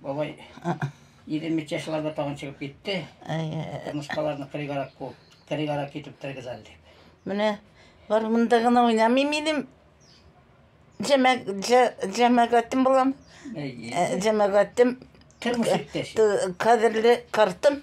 Бабай 23 чашларда тагын чыгып китте. Томышкаларны кырыгарак куып, кырыгарак итеп тергез әле дип. Менә бар монда гына уйнамыйм минем. Җәмәгатем булам. Җәмәгатем. Тормыш иптәш. Кадерле картым.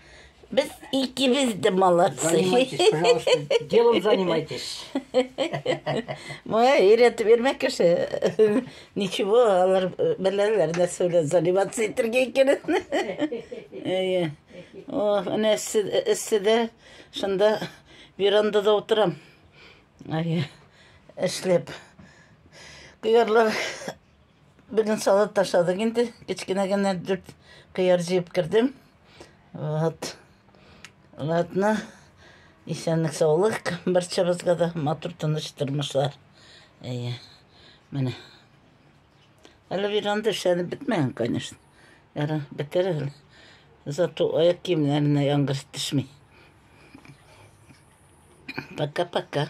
Без икебез дә молодцы. Занимайтесь, пожалуйста. Делом занимайтесь. Моя өйрәтеп йөрмә кеше. Ничего, алар беләләр нәрсә белән заниматься итәргә икәнен. Әйе. О, менә эсседә шунда верандада утырам. Әйе. Эшләп. Кыярлар Бүген салат ашадык инде. Кечкенә генә дүрт кыяр җыеп кердем. Вот. Ладно. Исәнлек саулык. Барчабызга да матур тыныч тормышлар. Әйе. Менә. Әле веранда эшләнеп бетмәгән, конечно. Яра, бетер әле. Зато аяк киемнәренә яңгыр төшми. Пока-пока.